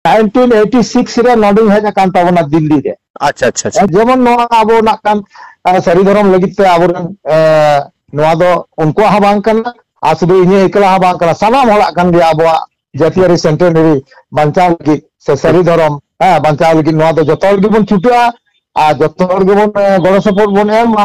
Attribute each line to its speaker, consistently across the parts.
Speaker 1: 1986 ᱨᱮ ᱱᱚᱰᱮᱧ ᱦᱮᱡ ᱟᱠᱟᱱ ᱛᱟᱵᱚᱱᱟ ᱫᱤᱞᱞᱤ ᱨᱮ ᱟᱪᱪᱷᱟ ᱟᱪᱪᱷᱟ ᱡᱮᱢᱚᱱ
Speaker 2: ᱱᱚᱣᱟ ᱟᱵᱚ ᱱᱟᱜ
Speaker 1: ᱠᱟᱱ ᱥᱟᱹᱨᱤ ᱫᱷᱚᱨᱚᱢ ᱞᱟᱹᱜᱤᱫ ᱛᱮ ᱟᱵᱚᱨᱮᱱ ᱱᱚᱣᱟ ᱫᱚ ᱩᱱᱠᱩᱣᱟᱜ ᱦᱚᱸ ᱵᱟᱝ ᱠᱟᱱᱟ ᱟᱨ ᱥᱩᱫᱷᱩ ᱤᱧᱟᱹᱜ ᱮᱠᱞᱟ ᱦᱚᱸ ᱵᱟᱝ ᱠᱟᱱᱟ ᱥᱟᱱᱟᱢ ᱦᱚᱲᱟᱜ ᱠᱟᱱ ᱜᱮᱭᱟ ᱟᱵᱚᱣᱟᱜ ᱡᱟᱹᱛᱤᱭᱟᱹᱨᱤ ᱥᱮᱱᱴᱮᱱᱟᱨᱤ ᱵᱟᱧᱪᱟᱣ ᱞᱟᱹᱜᱤᱫ ᱥᱮ ᱥᱟᱹᱨᱤ ᱫᱷᱚᱨᱚᱢ ᱦᱮᱸ ᱵᱟᱧᱪᱟᱣ ᱞᱟᱹᱜᱤᱫ ᱱᱚᱣᱟ ᱫᱚ ᱡᱚᱛᱚ ᱦᱚᱲ ᱜᱮᱵᱚᱱ ᱪᱷᱩᱴᱟᱹᱜᱼᱟ ᱟᱨ ᱡᱚᱛᱚ ᱦᱚᱲ ᱜᱮᱵᱚᱱ ᱜᱚᱲᱚ ᱥᱚᱯᱚᱦᱚᱫ ᱵᱚᱱ ᱮᱢᱟ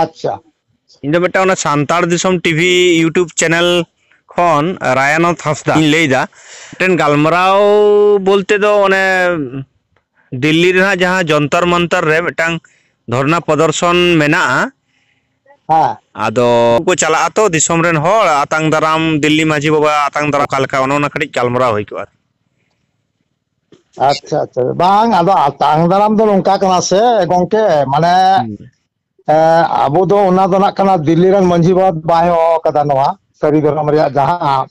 Speaker 1: ᱟᱪᱪᱷᱟ ᱤᱧ ᱫᱚ
Speaker 2: ᱢᱤᱫᱴᱟᱝ ᱚᱱᱟ ᱥᱟᱱᱛᱟᱲ ᱫᱤᱥᱚᱢ ᱴᱤᱵᱷᱤ ᱤᱭᱩᱴᱩᱵᱽ ᱪᱮᱱᱮᱞ ᱠᱷᱚᱱ ᱨᱟᱭᱟᱱᱚᱛ ᱦᱟᱸᱥᱫᱟ ᱤᱧ ᱞᱟᱹᱭᱫᱟ ᱢᱤᱫᱴᱮᱱ ᱜᱟᱞᱢᱟᱨᱟᱣ ᱵᱚᱞᱛᱮ ᱫᱚ ᱚᱱᱮ ᱫᱤᱞᱞᱤ ᱨᱮᱱᱟᱜ ᱡᱟᱦᱟᱸ ᱡᱚᱱᱛᱚᱨ ᱢᱚᱱᱛᱚᱨ ᱨᱮ ᱢᱤᱫᱴᱟᱝ ᱫᱷᱚᱨᱱᱟ ᱯᱨᱚᱫᱚᱨᱥᱚᱱ ᱢᱮᱱᱟᱜᱼᱟ ᱦᱮᱸ
Speaker 1: ᱟᱫᱚ
Speaker 2: ᱠᱚ ᱪᱟᱞᱟᱜᱼᱟ ᱛᱚ ᱫᱤᱥᱚᱢ ᱨᱮᱱ ᱦᱚᱲ ᱟᱛᱟᱝ ᱫᱟᱨᱟᱢ ᱫᱤᱞᱞᱤ ᱢᱟᱺᱡᱷᱤ ᱵᱟᱵᱟ ᱟᱛᱟᱝ ᱫᱟᱨᱟᱢ ᱚᱠᱟ ᱞᱮᱠᱟ ᱚᱱᱟ ᱠᱟᱹᱴᱤᱡ ᱜᱟᱞᱢᱟᱨᱟᱣ ᱦᱩᱭ ᱠᱚᱜᱼᱟ
Speaker 1: ᱟᱪᱪᱷᱟ ᱟᱪᱪᱷᱟ ᱵᱟᱝ ᱟᱫᱚ ᱟᱛᱟᱝ ᱫᱟᱨᱟᱢ ᱫᱚ ᱱᱚᱝᱠᱟ ᱠᱟᱱᱟ ᱥᱮ ᱜᱚᱝᱠᱮ ᱢᱟᱱᱮ ᱦᱩᱸ ᱟᱵᱚ ᱫᱚ ᱚᱱᱟ ᱫᱚ ᱱᱟᱜ ᱠᱟᱱᱟ ᱫᱤᱞᱞᱤ ᱨᱮᱱ ᱢᱟᱺᱡᱷᱤ ᱵᱟᱵᱟ ᱫᱚ ᱵᱟᱭ ᱦᱚᱦᱚ ᱟᱠᱟᱫᱟ ᱱᱚᱣᱟ ᱥᱟᱹᱨᱤ ᱫᱷᱚᱨᱚᱢ ᱨᱮᱭᱟᱜ ᱡᱟᱦᱟᱸ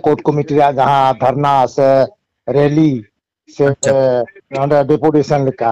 Speaker 1: ᱠᱳᱨᱴ ᱠᱚᱢᱤᱴᱤ ᱨᱮᱭᱟᱜ ᱡᱟᱦᱟᱸ ᱫᱷᱟᱨᱱᱟ ᱥᱮ ᱨᱮᱞᱤ ᱥᱮ ᱟᱪᱪᱷᱟ ᱱᱚᱰᱮ ᱰᱮᱯᱩᱴᱮᱥᱚᱱ ᱞᱮᱠᱟ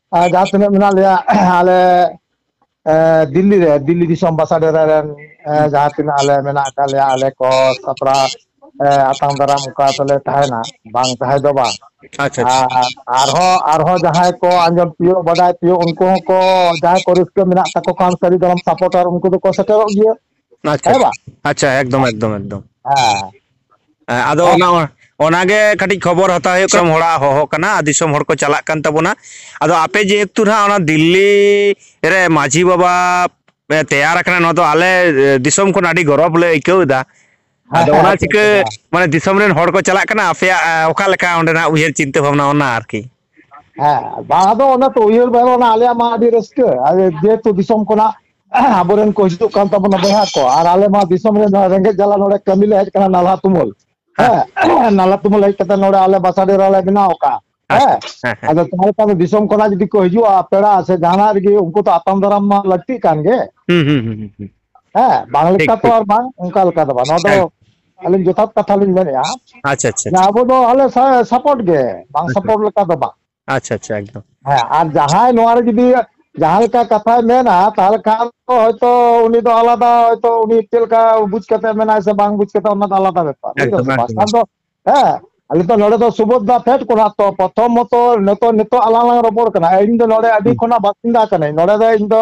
Speaker 1: ᱡᱟᱦᱟᱸ ᱛᱤᱱᱟᱹᱜ ᱢᱮᱱᱟᱜ ᱞᱮᱭᱟ ᱟᱞᱮ ᱫᱤᱞᱞᱤ ᱨᱮ ᱫᱤᱞᱞᱤ ᱫᱤᱥᱚᱢ ᱵᱟᱥᱟ ᱰᱮᱨᱟ ᱨᱮᱱ ᱡᱟᱦᱟᱸ ᱛᱤᱱᱟᱹᱜ ᱟᱞᱮ ᱢᱮᱱᱟᱜ ᱟᱠᱟᱫ ᱞᱮᱭᱟ ᱟᱞᱮ ᱠᱚ ᱥᱟᱯᱲᱟᱣ ᱟᱛᱟᱝ ᱫᱟᱨᱟᱢ ᱚᱱᱠᱟ ᱛᱮᱞᱮ ᱛᱟᱦᱮᱱᱟ ᱵᱟᱝ ᱛᱟᱦᱮᱸ ᱫᱚ ᱵᱟᱝ ᱟᱪᱪᱷᱟ ᱟᱪᱪᱷᱟ
Speaker 2: ᱟᱨ ᱟᱨᱦᱚᱸ ᱟᱨᱦᱚᱸ ᱡᱟᱦᱟᱸᱭ
Speaker 1: ᱠᱚ ᱟᱸᱡᱚᱢ ᱛᱤᱭᱳᱜ ᱵᱟᱰᱟᱭ ᱛᱤᱭᱳᱜ ᱩᱱᱠᱩ ᱦᱚᱸᱠᱚ ᱡᱟᱦᱟᱸᱭ ᱠᱚ ᱨᱟᱹᱥᱠᱟᱹ ᱢᱮᱱᱟᱜ ᱛᱟᱠᱚ ᱠᱷᱟᱱ ᱥᱟᱹᱨᱤ ᱫᱷᱚᱨᱚᱢ ᱥᱟᱯᱚᱴᱟᱨ ᱩᱱᱠᱩ ᱫᱚᱠᱚ ᱥᱮᱴᱮᱨᱚᱜ ᱜᱮᱭᱟ ᱟᱪᱪᱷᱟ
Speaker 2: ᱦᱮᱸ ᱵᱟᱝ ᱟᱪᱪᱷᱟ
Speaker 1: ᱮᱠᱫᱚᱢ ᱮᱠᱫᱚᱢ
Speaker 2: ᱮᱠᱫᱚᱢ
Speaker 1: ᱦᱮᱸ ᱦᱮᱸ ᱟᱫᱚ
Speaker 2: ᱚᱱᱟ ᱢᱟ ᱚᱱᱟᱜᱮ ᱠᱟᱹᱴᱤᱡ ᱠᱷᱚᱵᱚᱨ ᱦᱟᱛᱟᱣ ᱦᱩᱭᱩᱜ ᱠᱟᱱᱟ ᱦᱚᱲᱟᱜ ᱦᱚᱦᱚ ᱠᱟᱱᱟ ᱟᱨ ᱫᱤᱥᱚᱢ ᱦᱚᱲ ᱠᱚ ᱪᱟᱞᱟᱜ ᱠᱟᱱ ᱛᱟᱵᱚᱱᱟ ᱟᱫᱚ ᱟᱯᱮ ᱡᱮᱦᱮᱛᱩ ᱱᱟᱦᱟᱜ ᱚᱱᱟ ᱫᱤᱞᱞᱤ ᱨᱮ ᱢᱟᱺᱡᱷᱤ ᱵᱟᱵᱟ ᱯᱮ ᱛᱮᱭᱟᱨ ᱟᱠᱟᱱᱟ ᱱᱚᱣᱟ ᱫᱚ ᱟᱞᱮ ᱫᱤᱥᱚᱢ ᱠᱷᱚᱱ ᱟᱹᱰᱤ ᱜᱚᱨᱚᱵᱽ ᱞᱮ ᱟᱹᱭᱠᱟᱹᱣ ᱮᱫᱟ ᱦᱮᱸ ᱟᱫᱚ ᱦᱮᱸ ᱚᱱᱟ ᱟᱪᱪᱷᱟ ᱪᱤᱠᱟᱹ ᱟᱪᱪᱷᱟ ᱢᱟᱱᱮ ᱫᱤᱥᱚᱢ ᱨᱮᱱ ᱦᱚᱲ ᱠᱚ ᱪᱟᱞᱟᱜ ᱠᱟᱱᱟ ᱟᱯᱮᱭᱟᱜ ᱚᱠᱟ ᱞᱮᱠᱟ ᱚᱸᱰᱮᱱᱟᱜ ᱩᱭᱦᱟᱹᱨ ᱪᱤᱱᱛᱟᱹ ᱵᱷᱟᱵᱽᱱᱟ ᱚᱱᱟ ᱟᱨᱠᱤ ᱦᱮᱸ
Speaker 1: ᱵᱟᱝ ᱟᱫᱚ ᱚᱱᱟ ᱛᱚ ᱩᱭᱦᱟᱹᱨ ᱵᱟᱝ ᱚᱱᱟ ᱟᱞᱮᱭᱟᱜ ᱢᱟ ᱟᱹᱰᱤ ᱨᱟᱹᱥᱠᱟᱹ ᱡᱮᱦᱮᱛᱩ ᱫᱤᱥᱚᱢ ᱠᱷᱚᱱᱟᱜ ᱟᱵᱚᱨᱮᱱ ᱠᱚ ᱦᱤᱡᱩᱜ ᱠᱟᱱ ᱛᱟᱵᱚᱱᱟ ᱵᱚᱭᱦᱟ ᱠᱚ ᱟᱨ ᱟᱞᱮ ᱢᱟ ᱫᱤᱥᱚᱢ ᱨᱮ ᱨᱮᱸᱜᱮᱡ ᱡᱟᱞᱟ ᱱᱚᱰᱮ ᱠᱟᱹᱢᱤ ᱞᱮ ᱦᱮᱡ ᱟᱠᱟᱱᱟ ᱱᱟᱞᱦᱟ ᱛᱩᱢᱟᱹᱞ ᱦᱮᱸ ᱱᱟᱞᱦᱟ ᱛᱩᱢᱟᱹᱞ ᱦᱮᱡ ᱠᱟᱛᱮ ᱱᱚᱰᱮ ᱟᱞᱮ ᱵᱟᱥᱟ ᱰᱮᱨᱟ ᱞᱮ ᱵᱮᱱᱟᱣ ᱟᱠᱟᱫᱼᱟ ᱟᱪᱪᱷᱟ ᱦᱮᱸ ᱦᱮᱸ ᱦᱮᱸ ᱟᱫᱚ ᱛᱟᱦᱚᱞᱮ ᱫᱤᱥᱚᱢ ᱠᱷᱚᱱᱟᱜ ᱡᱩᱫᱤ ᱠᱚ ᱦᱤᱡᱩᱜᱼᱟ ᱯᱮᱲᱟ ᱥᱮ ᱡᱟᱦᱟᱱᱟᱜ ᱨᱮᱜᱮ ᱩᱱᱠᱩ ᱫᱚ ᱟᱛᱟᱝ ᱫᱟᱨᱟᱢ ᱢᱟ ᱞᱟᱹᱠᱛᱤᱜ ᱠᱟᱱ ᱜᱮ ᱦᱩᱸ ᱦᱩᱸ ᱦᱩᱸ ᱦᱩᱸ ᱦᱮᱸ ᱵᱟᱝ ᱴᱷᱤᱠ ᱞᱮᱠᱟ ᱛᱚ ᱴᱷᱤᱠ ᱟᱨ ᱵᱟᱝ ᱚᱱᱠᱟ ᱞᱮᱠᱟ ᱫᱚ ᱵᱟᱝ ᱱᱚᱣᱟ ᱫᱚ ᱮᱠᱫᱚᱢ ᱟᱹᱞᱤᱧ ᱡᱚᱛᱷᱟᱛ ᱠᱟᱛᱷᱟ ᱞᱤᱧ ᱢᱮᱱᱮᱫᱼᱟ ᱟᱪᱪᱷᱟ ᱟᱪᱪᱷᱟ ᱟᱪᱪᱷᱟ ᱟᱵᱚ
Speaker 2: ᱫᱚ ᱟᱞᱮ
Speaker 1: ᱥᱟᱯᱚᱴ ᱜᱮ ᱵᱟᱝ ᱟᱪᱪᱷᱟ ᱥᱟᱯᱚᱴ ᱞᱮᱠᱟ ᱫᱚ ᱵᱟᱝ ᱟᱪᱪᱷᱟ ᱟᱪᱪᱷᱟ
Speaker 2: ᱮᱠᱫᱚᱢ ᱦᱮᱸ ᱟᱨ ᱡᱟᱦᱟᱸᱭ
Speaker 1: ᱱᱚᱣᱟ ᱨᱮ ᱡᱩᱫᱤ ᱡᱟᱦᱟᱸ ᱞᱮᱠᱟ ᱠᱟᱛᱷᱟᱭ ᱢᱮᱱᱟ ᱛᱟᱦᱚᱞᱮ ᱠᱷᱟᱱ ᱫᱚ ᱦᱚᱭᱛᱚ ᱩᱱᱤ ᱫᱚ ᱟᱞᱟᱫᱟ ᱦᱚᱭᱛᱚ ᱩᱱᱤ ᱪᱮᱫ ᱞᱮᱠᱟ ᱵᱩᱡᱽ ᱠᱟᱛᱮ ᱢᱮᱱᱟᱭ ᱥᱮ ᱵᱟᱝ ᱵᱩᱡᱽ ᱠᱟᱛᱮ ᱚᱱᱟ ᱫᱚ ᱟᱞᱟᱫᱟ ᱵᱮᱯᱟᱨ ᱵᱩᱡ ᱮᱠᱫᱚᱢ ᱫᱟᱢ ᱥᱮ ᱮᱠᱫᱚᱢ ᱵᱟᱝ ᱫᱚ ᱦᱮᱸ ᱟᱞᱮ ᱫᱚ ᱱᱚᱰᱮ ᱫᱚ ᱥᱩᱵᱷᱚᱫᱨᱟ ᱯᱷᱮᱰ ᱠᱷᱚᱱᱟᱜ ᱛᱚ ᱯᱨᱚᱛᱷᱚᱢ ᱢᱚᱛᱚ ᱱᱤᱛᱚᱜ ᱟᱞᱟᱝ ᱞᱟᱝ ᱨᱚᱯᱚᱲ ᱠᱟᱱᱟ ᱤᱧ ᱫᱚ ᱱᱚᱰᱮ ᱟᱹᱰᱤ ᱦᱩᱸ ᱠᱷᱚᱱᱟᱜ ᱵᱟᱥᱤᱱᱫᱟ ᱠᱟᱹᱱᱟᱹᱧ ᱱᱚᱰᱮ ᱫᱚ ᱤᱧ ᱫᱚ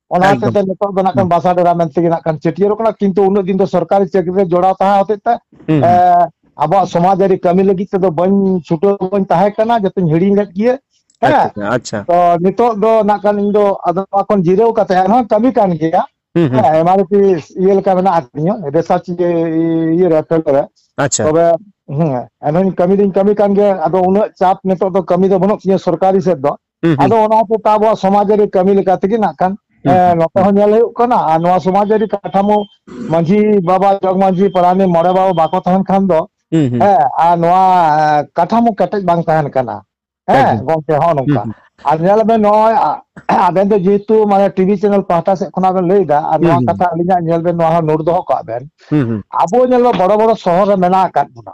Speaker 1: ᱚᱱᱟ ᱦᱚᱛᱮ ᱮᱠᱫᱚᱢ ᱛᱮ ᱱᱤᱛᱚᱜ ᱫᱚ ᱱᱟᱜ ᱦᱩᱸ ᱠᱷᱟᱱ ᱵᱟᱥ ᱵᱟᱥᱟ ᱰᱮᱨᱟ ᱢᱮᱱᱛᱮ ᱜᱮ ᱱᱟᱜ ᱠᱷᱟᱱ ᱪᱷᱟᱹᱴᱭᱟᱹᱨᱚᱜ ᱠᱟᱱᱟ ᱠᱤᱱᱛᱩ ᱩᱱᱟᱹᱜ ᱫᱤᱱ ᱫᱚ ᱥᱚᱨᱠᱟᱨᱤ ᱪᱟᱹᱠᱨᱤ ᱨᱮ ᱡᱚᱲᱟᱣ ᱛᱟᱦᱮᱸ ᱦᱚᱛᱮᱡ ᱛᱮ ᱦᱩᱸ ᱦᱩᱸ ᱮᱸ ᱟᱵᱚᱣᱟᱜ ᱥᱚᱢᱟᱡᱽ ᱟᱹᱨᱤ ᱠᱟᱹᱢᱤ ᱞᱟᱹᱜᱤᱫ ᱛᱮᱫᱚ ᱵᱟᱹᱧ ᱪᱷᱩᱴᱟᱹᱣ ᱵᱟᱹᱧ ᱛᱟᱦᱮᱸ ᱠᱟᱱᱟ ᱡᱚᱛᱚᱧ ᱦᱤᱲᱤᱧ ᱞᱮᱫ ᱜᱤᱭᱟᱹ ᱟᱪᱪᱷᱟ ᱦᱮᱸ ᱟᱪᱪᱷᱟ ᱟᱪᱪᱷᱟ ᱛᱚ ᱱᱤᱛᱚᱜ ᱫᱚ ᱱᱟᱜ ᱠᱷᱟᱱ ᱤᱧ ᱫᱚ ᱟᱫᱚ ᱱᱚᱣᱟ ᱠᱷᱚᱱ ᱡᱤᱨᱟᱹᱣ ᱠᱟᱛᱮ ᱮᱱᱦᱚᱸ ᱠᱟᱹᱢᱤ ᱠᱟᱱ ᱜᱮᱭᱟ ᱦᱩᱸ ᱦᱩᱸ ᱦᱮᱸ ᱮᱢ ᱤᱭᱟᱹ ᱞᱮᱠᱟ ᱢᱮᱱᱟᱜ ᱟᱠᱟᱫᱤᱧᱟ ᱨᱮᱥᱟᱨᱪ ᱜᱮ ᱤᱭᱟᱹ ᱨᱮ ᱯᱷᱮᱞ ᱠᱚᱨᱮ ᱟᱪᱪᱷᱟ ᱛᱚᱵᱮ ᱦᱮᱸ ᱮᱱᱦᱚᱧ ᱠᱟᱹᱢᱤ ᱫᱚᱧ ᱠᱟᱹᱢᱤ ᱠᱟᱱ ᱜᱮᱭᱟ ᱟᱫᱚ ᱩᱱᱟᱹᱜ ᱪᱟᱯ ᱱᱤᱛᱚᱜ ᱫᱚ ᱠᱟᱹᱢᱤ ᱫᱚ ᱵᱟᱹᱱᱩᱜ ᱛᱤᱧᱟᱹ ᱥᱚᱨᱠᱟᱨᱤ ᱥᱮᱫ ᱫᱚ ᱦᱩᱸ ᱦᱩᱸ ᱟᱫᱚ ᱚᱱᱟ ᱦᱚᱛᱮ ᱛᱮ ᱟᱵᱚᱣᱟᱜ ᱥᱚᱢᱟᱡᱽ ᱟᱹᱨᱤ ᱠᱟᱹᱢᱤ ᱞᱮᱠᱟ ᱛᱮᱜᱮ ᱱᱟᱜ ᱠᱷᱟᱱ ᱦᱩᱸ ᱦᱮᱸ ᱱᱚᱛᱮ ᱦᱚᱸ ᱧᱮᱞ ᱦᱩᱭᱩᱜ ᱠᱟᱱᱟ ᱟᱨ ᱱᱚᱣᱟ ᱥᱚᱢᱟᱡᱽ ᱟᱹᱨᱤ ᱠᱟᱴᱷᱟᱢᱳ ᱢᱟᱺᱡᱷᱤ ᱵᱟᱵᱟ ᱡᱚᱜᱽ ᱢᱟᱺᱡᱷᱤ ᱯᱟᱨᱟᱱᱤᱠ ᱢᱚᱬᱮ ᱵᱟᱵᱟ ᱵᱟᱠᱚ ᱛᱟᱦᱮᱱ ᱠᱷᱟᱱ ᱫᱚ ᱦᱩᱸ ᱦᱩᱸ ᱦᱮᱸ ᱟᱨ ᱱᱚᱣᱟ ᱠᱟᱴᱷᱟᱢᱳ ᱠᱮᱴᱮᱡ ᱵᱟᱝ ᱛᱟᱦᱮᱱ ᱠᱟᱱᱟ ᱦᱮᱸ ᱮᱠᱫᱚᱢ ᱜᱚᱝᱠᱮ ᱦᱚᱸᱜᱼᱚ ᱦᱩᱸ ᱱᱚᱝᱠᱟ ᱦᱩᱸ ᱟᱨ ᱧᱮᱞ ᱟᱵᱮᱱ ᱱᱚᱜᱼᱚᱭ ᱟᱵᱮᱱ ᱫᱚ ᱡᱮᱦᱮᱛᱩ ᱢᱟᱱᱮ ᱴᱤᱵᱷᱤ ᱪᱮᱱᱮᱞ ᱯᱟᱦᱴᱟ ᱥᱮᱫ ᱠᱷᱚᱱᱟᱜ ᱵᱮᱱ ᱞᱟᱹᱭ ᱮᱫᱟ ᱟᱨ ᱦᱩᱸ ᱱᱚᱣᱟ ᱦᱩᱸ ᱠᱟᱛᱷᱟ ᱟᱹᱞᱤᱧᱟᱜ ᱧᱮᱞ ᱵᱮᱱ ᱱᱚᱣᱟ ᱦᱚᱸ ᱱᱳᱴ ᱫᱚᱦᱚ ᱠᱟᱜ ᱵᱮᱱ ᱦᱩᱸ ᱦᱩᱸ ᱟᱵᱚ ᱧᱮᱞ ᱵᱮᱱ ᱵᱚᱲᱚ ᱵᱚᱲᱚ ᱥᱚᱦᱚᱨ ᱨᱮ ᱢᱮᱱᱟᱜ ᱟᱠᱟᱫ ᱵᱚᱱᱟ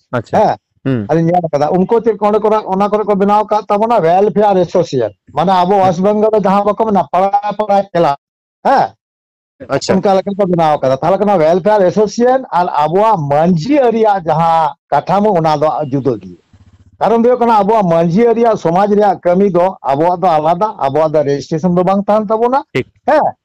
Speaker 1: ᱟᱪᱪᱷᱟ ᱦᱮᱸ ᱦᱩᱸ ᱟᱫᱚᱧ ᱧᱮᱞ ᱟᱠᱟᱫᱟ ᱩᱱᱠᱩ ᱪᱮᱫ ᱚᱸᱰᱮ ᱠᱚ ᱚᱱᱟ ᱠᱚᱨᱮ ᱠᱚ ᱵᱮᱱᱟᱣ ᱟᱠᱟᱫ ᱛᱟᱵᱚᱱᱟ ᱣᱮᱞᱯᱷᱮᱭᱟᱨ ᱮᱥᱳᱥᱤᱭᱮᱱ ᱢᱟᱱᱮ ᱟᱵᱚ ᱦᱩᱸ ᱣᱮᱥᱴ ᱵᱮᱝᱜᱚᱞ ᱨᱮ ᱡᱟᱦᱟᱸ ᱵᱟᱠᱚ ᱢᱮᱱᱟ ᱯᱟᱲᱟ ᱯᱟᱲᱟ ᱠᱷᱮᱞᱟ ᱦᱮᱸ ᱟᱪᱪᱷᱟ
Speaker 2: ᱚᱱᱠᱟ ᱞᱮᱠᱟ ᱠᱚ ᱵᱮᱱᱟᱣ
Speaker 1: ᱟᱠᱟᱫᱟ ᱛᱟᱦᱚᱞᱮ ᱠᱷᱟᱱ ᱣᱮᱞᱯᱷᱮᱭᱟᱨ ᱮᱥᱳᱥᱤᱭᱮᱱ ᱟᱨ ᱟᱵᱚᱣᱟᱜ ᱢᱟᱺᱡᱷᱤ ᱟᱹᱨᱤᱭᱟᱜ ᱡᱟᱦᱟᱸ ᱠᱟᱴᱷᱟᱢᱳ ᱚᱱᱟ ᱫᱚ ᱡᱩᱫᱟᱹ ᱜᱮᱭᱟ ᱠᱟᱨᱚᱱ ᱫᱚ ᱦᱩᱭᱩᱜ ᱠᱟᱱᱟ ᱟᱵᱚᱣᱟᱜ ᱢᱟᱺᱡᱷᱤ ᱟᱹᱨᱤ ᱥᱚᱢᱟᱡᱽ ᱨᱮᱭᱟᱜ ᱠᱟᱹᱢᱤ ᱫᱚ ᱟᱵᱚᱣᱟᱜ ᱫᱚ ᱟᱞᱟᱫᱟ ᱟᱵᱚᱣᱟᱜ ᱫᱚ ᱨᱮᱡᱤᱥᱴᱨᱮᱥᱚᱱ ᱫᱚ ᱵᱟᱝ ᱠᱟᱱ ᱛᱟᱵᱚᱱᱟ ᱴᱷᱤᱠ ᱦᱮᱸ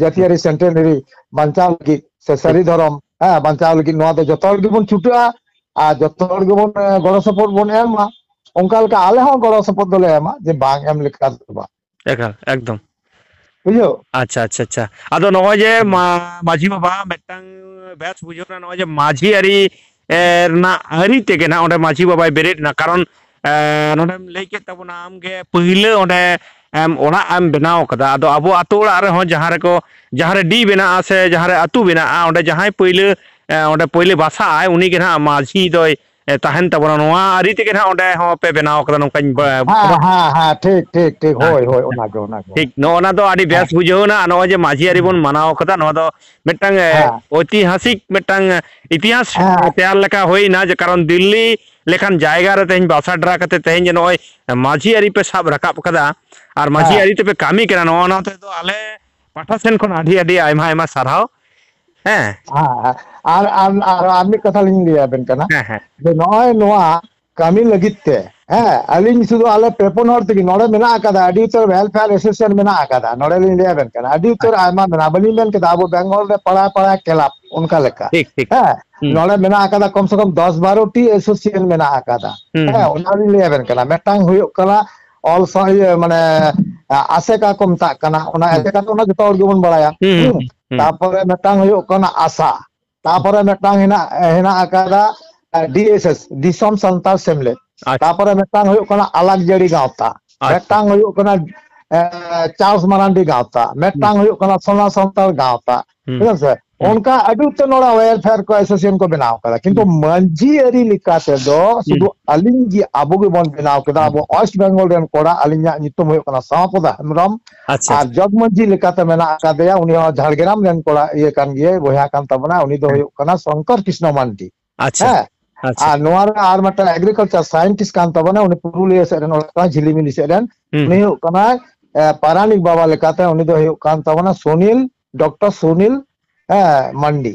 Speaker 1: ᱡᱟᱹᱛᱤᱭᱟᱹᱨᱤ ᱥᱮᱱᱴᱮᱱᱟᱨᱤ ᱵᱟᱧᱪᱟᱣ ᱞᱟᱹᱜᱤᱫ ᱥᱮ ᱥᱟᱹᱨᱤ ᱫᱷᱚᱨᱚᱢ ᱦᱮᱸ ᱵᱟᱧᱪᱟᱣ ᱞᱟᱹᱜᱤᱫ ᱱᱚᱣᱟ ᱫᱚ ᱡᱚᱛᱚ ᱦᱚᱲ ᱜᱮᱵᱚᱱ ᱪᱷᱩᱴᱟᱹᱜᱼᱟ ᱟᱨ ᱡᱚᱛᱚ ᱦᱚᱲ ᱜᱮᱵᱚᱱ ᱜᱚᱲᱚ ᱥᱚᱯᱚᱦᱚᱫ ᱵᱚᱱ ᱮᱢᱟ ᱚᱱᱠᱟ ᱞᱮᱠᱟ ᱟᱞᱮ ᱦᱚᱸ ᱜᱚᱲᱚ ᱥᱚᱯᱚᱦᱚᱫ ᱫᱚᱞᱮ ᱮᱢᱟ ᱡᱮ ᱵᱟᱝ ᱮᱢ ᱞᱮᱠᱟ ᱫᱚ ᱵᱟᱝ ᱮᱠᱟᱞ ᱮᱠᱫᱚᱢ
Speaker 2: ᱵᱩᱡᱷᱟᱹᱣ
Speaker 1: ᱟᱪᱪᱷᱟ ᱟᱪᱪᱷᱟ ᱟᱪᱪᱷᱟ
Speaker 2: ᱟᱫᱚ ᱱᱚᱜᱼᱚᱭ ᱡᱮ ᱢᱟᱺᱡᱷᱤ ᱵᱟᱵᱟ ᱢᱤᱫᱴᱟᱝ ᱵᱮᱥ ᱵᱩᱡᱷᱟᱹᱣ ᱱᱟ ᱱᱚᱜᱼᱚᱭ ᱡᱮ ᱢᱟᱺᱡᱷᱤ ᱟᱹᱨᱤ ᱨᱮᱱᱟᱜ ᱟᱹᱨᱤ ᱛᱮᱜᱮ ᱱᱟᱜ ᱚᱸᱰᱮ ᱢᱟᱹᱡᱷᱤ ᱵᱟᱵᱟᱭ ᱵᱮᱨᱮᱫ ᱮᱱᱟ ᱠᱟᱨᱚᱱ ᱱᱚᱸᱰᱮᱢ ᱞᱟᱹᱭ ᱠᱮᱫ ᱛᱟᱵᱚᱱᱟ ᱟᱢᱜᱮ ᱯᱟᱹᱭᱞᱟᱹ ᱚᱸᱰᱮ ᱟᱢ ᱚᱲᱟᱜ ᱮᱢ ᱵᱮᱱᱟᱣ ᱠᱟᱫᱟ ᱟᱫᱚ ᱟᱵᱚ ᱟᱛᱳ ᱚᱲᱟᱜ ᱨᱮᱦᱚᱸ ᱡᱟᱦᱟᱸ ᱨᱮᱠᱚ ᱡᱟᱦᱟᱸ ᱨᱮ ᱰᱤ ᱵᱮᱱᱟᱜᱼᱟ ᱥᱮ ᱡᱟᱦᱟᱸ ᱨᱮ ᱟᱛᱳ ᱵᱮᱱᱟᱜᱼᱟ ᱚᱸᱰᱮ ᱡᱟᱦᱟᱸᱭ ᱯᱟᱹᱭᱞᱟᱹ ᱚᱸᱰᱮ ᱯᱟᱹᱭᱞᱟᱹ ᱵᱟᱥᱟᱜ ᱟᱭ ᱩᱱᱤᱜᱮ ᱱᱟᱜ ᱢᱟᱹᱡᱷᱤ ᱫᱚᱭ ᱛᱟᱦᱮᱱ ᱛᱟᱵᱚᱱᱟ ᱱᱚᱣᱟ ᱟᱹᱨᱤ ᱛᱮᱜᱮ ᱱᱟᱜ ᱚᱸᱰᱮ ᱦᱚᱸ ᱯᱮ ᱵᱮᱱᱟᱣ ᱠᱟᱫᱟ ᱱᱚᱝᱠᱟᱧ ᱦᱮᱸ ᱠᱷᱚᱵᱚᱨ ᱦᱮᱸ ᱦᱮᱸ
Speaker 1: ᱴᱷᱤᱠ ᱴᱷᱤᱠ ᱴᱷᱤᱠ ᱦᱳᱭ ᱦᱳᱭ ᱚᱱᱟᱜᱮ ᱚᱱᱟᱜᱮ ᱴᱷᱤᱠ ᱱᱚᱜᱼᱚ ᱱᱟ ᱫᱚ ᱟᱹᱰᱤ ᱦᱮᱸ
Speaker 2: ᱵᱮᱥ ᱵᱩᱡᱷᱟᱹᱣ ᱮᱱᱟ ᱟᱨ ᱱᱚᱜᱼᱚᱭ ᱡᱮ ᱢᱟᱹᱡᱷᱤ ᱟᱹᱨᱤ ᱵᱚᱱ ᱢᱟᱱᱟᱣ ᱠᱟᱫᱟ ᱱᱚᱣᱟ ᱫᱚ ᱢᱤᱫᱴᱟᱝ ᱦᱮᱸ ᱳᱭᱛᱤᱦᱟᱥᱤᱠ ᱢᱤᱫᱴᱟᱝ ᱤᱛᱤᱦᱟᱥ ᱦᱮᱸ ᱛᱮᱭᱟᱨ ᱞᱮᱠᱟ ᱦᱩᱭᱱᱟ ᱡᱮ ᱠᱟᱨᱚᱱ ᱫᱤᱞᱞᱤ ᱞᱮᱠᱟᱱ ᱡᱟᱭᱜᱟ ᱨᱮ ᱛᱮᱦᱮᱧ ᱵᱟᱥᱟ ᱰᱮᱨᱟ ᱠᱟᱛᱮ ᱛᱮᱦᱮᱧ ᱡᱮ ᱱᱚᱜᱼᱚᱭ ᱢᱟᱹᱡᱷᱤ ᱟᱹᱨᱤ ᱯᱮ ᱥᱟᱵ ᱨᱟᱠᱟᱵ ᱠᱟᱫᱟ ᱟᱨ ᱢᱟᱹᱡᱷᱤ ᱦᱮᱸ ᱟᱹᱨᱤ ᱛᱮᱯᱮ ᱠᱟᱹᱢᱤ ᱠᱟᱱᱟ ᱱᱚᱜᱼᱚ ᱱᱚᱣᱟ ᱛᱮᱫᱚ ᱟᱞᱮ ᱯᱟᱦᱴᱟ ᱥᱮᱱ ᱠᱷᱚᱱ ᱟᱹᱰᱤ ᱟᱹᱰᱤ ᱟᱭᱢᱟ ᱟᱭᱢᱟ ᱥᱟᱨᱦᱟᱣ ᱦᱮᱸ ᱦᱮᱸ ᱦᱮᱸ ᱟᱨ ᱟᱨ ᱟᱨ
Speaker 1: ᱢᱤᱫ ᱠᱟᱛᱷᱟ ᱞᱤᱧ ᱞᱟᱹᱭ ᱟᱵᱮᱱ ᱠᱟᱱᱟ ᱦᱮᱸ ᱦᱮᱸ ᱡᱮ ᱱᱚᱜᱼᱚᱭ ᱱᱚᱣᱟ ᱠᱟᱹᱢᱤ ᱞᱟᱹᱜᱤᱫ ᱛᱮ ᱦᱮᱸ ᱟᱹᱞᱤᱧ ᱥᱩᱫᱷᱩ ᱟᱞᱮ ᱯᱮ ᱯᱩᱱ ᱦᱚᱲ ᱛᱮᱜᱮ ᱱᱚᱰᱮ ᱢᱮᱱᱟᱜ ᱟᱠᱟᱫᱟ ᱟᱹᱰᱤ ᱩᱛᱟᱹᱨ ᱦᱮᱞᱯᱷᱮᱭᱟᱨ ᱮᱥᱳᱥᱤᱭᱮᱥᱚᱱ ᱢᱮᱱᱟᱜ ᱟᱠᱟᱫᱟ ᱱᱚᱰᱮ ᱞᱤᱧ ᱞᱟᱹᱭ ᱟᱵᱮᱱ ᱠᱟᱱᱟ ᱟᱹᱰᱤ ᱩᱛᱟᱹᱨ ᱟᱭᱢᱟ ᱢᱮᱱᱟᱜᱼᱟ ᱵᱟᱹᱞᱤᱧ ᱢᱮᱱ ᱠᱮᱫᱟ ᱟᱵᱚ ᱵᱮᱝᱜᱚᱞ ᱨᱮ ᱯᱟᱲᱟ ᱯᱟᱲᱟ ᱠᱮᱞᱟᱵ ᱚᱱᱠᱟ ᱞᱮᱠᱟ ᱴᱷᱤᱠ ᱴᱷᱤᱠ ᱦᱮᱸ ᱦᱩᱸ
Speaker 2: ᱱᱚᱰᱮ ᱢᱮᱱᱟᱜ
Speaker 1: ᱟᱠᱟᱫᱟ ᱠᱚᱢ ᱥᱮ ᱠᱚᱢ ᱫᱚᱥ ᱵᱟᱨᱚᱴᱤ ᱮᱥᱳᱥᱤᱭᱮᱥᱚᱱ ᱢᱮᱱᱟᱜ ᱟᱠᱟᱫᱟ ᱦᱩᱸ ᱦᱮᱸ ᱦᱩᱸ ᱚᱱᱟ ᱞᱤᱧ ᱞᱟᱹᱭ ᱟᱵᱮᱱ ᱠᱟᱱᱟ ᱢᱤᱫᱴᱟᱝ ᱦᱩᱭᱩᱜ ᱠᱟᱱᱟ ᱚᱞ ᱥᱟᱶ ᱤᱭᱟᱹ ᱢᱟᱱᱮ ᱟᱥᱮᱠᱟ ᱠᱚ ᱢᱮᱛᱟᱜ ᱠᱟᱱᱟ ᱚᱱᱟ ᱦᱩᱸ ᱮᱥᱮᱠᱟ ᱫᱚ ᱚᱱᱟ ᱡᱚᱛᱚ ᱦᱚᱲ ᱜᱮᱵᱚᱱ ᱵᱟᱲᱟᱭᱟ ᱦᱩᱸ ᱦᱩᱸ ᱦᱩᱸ ᱛᱟᱯᱚᱨᱮ ᱢᱤᱫᱴᱟᱝ ᱦᱩᱭᱩᱜ ᱠᱟᱱᱟ ᱟᱥᱟ ᱛᱟᱯᱚᱨᱮ ᱢᱤᱫᱴᱟᱝ ᱦᱮᱱᱟᱜ ᱦᱮᱱᱟᱜ ᱟᱠᱟᱫᱟ ᱰᱤ ᱮᱥ ᱮᱥ ᱫᱤᱥᱚᱢ ᱥᱟᱱᱛᱟᱲ ᱥᱮᱢᱞᱮᱫ ᱟᱪᱪᱷᱟ ᱛᱟᱯᱚᱨᱮ ᱢᱤᱫᱴᱟᱝ ᱦᱩᱭᱩᱜ ᱠᱟᱱᱟ ᱟᱞᱟᱠ ᱡᱟᱹᱲᱤ ᱜᱟᱶᱛᱟ ᱟᱪᱪᱷᱟ ᱢᱤᱫᱴᱟᱝ ᱦᱩᱭᱩᱜ ᱠᱟᱱᱟ ᱪᱟᱥ ᱢᱟᱨᱟᱱᱰᱤ ᱜᱟᱶᱛᱟ ᱢᱤᱫᱴᱟᱝ ᱦᱩᱭᱩᱜ ᱠᱟᱱᱟ ᱥᱳᱱᱟ ᱥᱟᱱᱛᱟᱲ ᱜᱟᱶᱛᱟ ᱦᱩᱸ ᱵᱩᱡᱷᱟᱹᱣ ᱥᱮ ᱦᱩᱸ ᱚᱱᱠᱟ ᱟᱹᱰᱤ ᱩᱛᱟᱹᱨ ᱱᱚᱰᱮ ᱣᱮᱞᱯᱷᱮᱭᱟᱨ ᱠᱚ ᱮᱥᱳᱥᱤᱭᱮᱥᱚᱱ ᱠᱚ ᱵᱮᱱᱟᱣ ᱟᱠᱟᱫᱟ ᱠᱤᱱᱛᱩ ᱦᱩᱸ ᱢᱟᱺᱡᱷᱤ ᱟᱹᱨᱤ ᱞᱮᱠᱟ ᱛᱮᱫᱚ ᱦᱩᱸ ᱥᱩᱫᱩ ᱟᱹᱞᱤᱧ ᱜᱮ ᱟᱵᱚ ᱜᱮᱵᱚᱱ ᱵᱮᱱᱟᱣ ᱠᱮᱫᱟ ᱦᱩᱸ ᱟᱵᱚ ᱚᱭᱮᱥᱴ ᱵᱮᱝᱜᱚᱞ ᱨᱮᱱ ᱠᱚᱲᱟ ᱟᱹᱞᱤᱧᱟᱜ ᱧᱩᱛᱩᱢ ᱦᱩᱭᱩᱜ ᱠᱟᱱᱟ ᱥᱟᱣᱯᱚᱫᱟ ᱦᱮᱢᱵᱨᱚᱢ ᱟᱪᱪᱷᱟ ᱟᱨ ᱡᱚᱜᱽ ᱢᱟᱺᱡᱷᱤ ᱞᱮᱠᱟᱛᱮ ᱢᱮᱱᱟᱜ ᱟᱠᱟᱫᱮᱭᱟ ᱩᱱᱤ ᱦᱚᱸ ᱡᱷᱟᱲᱜᱨᱟᱢ ᱨᱮᱱ ᱠᱚᱲᱟ ᱤᱭᱟᱹ ᱠᱟᱱ ᱜᱮᱭᱟᱭ ᱵᱚᱭᱦᱟ ᱠᱟᱱ ᱛᱟᱵᱚᱱᱟ ᱩᱱᱤ ᱫᱚ ᱦᱩᱭᱩᱜ ᱠᱟᱱᱟ ᱥᱚᱝᱠᱚᱨ ᱠᱨᱤᱥᱱᱚ ᱢᱟᱱᱰᱤ ᱟᱪᱪᱷᱟ ᱦᱮᱸ ᱟᱪᱪᱷᱟ ᱟᱨ ᱱᱚᱣᱟ ᱨᱮ ᱟᱨ ᱢᱤᱫᱴᱟᱝ ᱮᱜᱽᱨᱤᱠᱟᱞᱪᱟᱨ ᱥᱟᱭᱮᱱᱴᱤᱥᱴ ᱠᱟᱱ ᱛᱟᱵᱚᱱᱟ ᱩᱱᱤ ᱯᱩᱨᱩᱞᱤᱭᱟᱹ ᱥᱮᱫ ᱨᱮᱱ ᱚᱲᱟᱜ ᱛᱟᱭ ᱡᱷᱤᱞᱤᱢᱤᱞᱤ ᱥᱮᱫ ᱨᱮᱱ ᱦᱩᱸ ᱩᱱᱤ ᱦᱩᱸ ᱦᱩᱭᱩᱜ ᱠᱟᱱᱟᱭ ᱮᱸ ᱯᱟᱨᱟᱱᱤᱠ ᱵᱟᱵᱟ ᱞᱮᱠᱟᱛᱮ ᱩᱱᱤ ᱫᱚ ᱦᱩᱭᱩᱜ ᱠᱟᱱ ᱛᱟᱵᱚᱱᱟ ᱥᱩᱱᱤᱞ ᱰᱚᱠᱴᱚᱨ ᱥᱩᱱᱤᱞ ᱦᱮᱸ ᱢᱟᱱᱰᱤ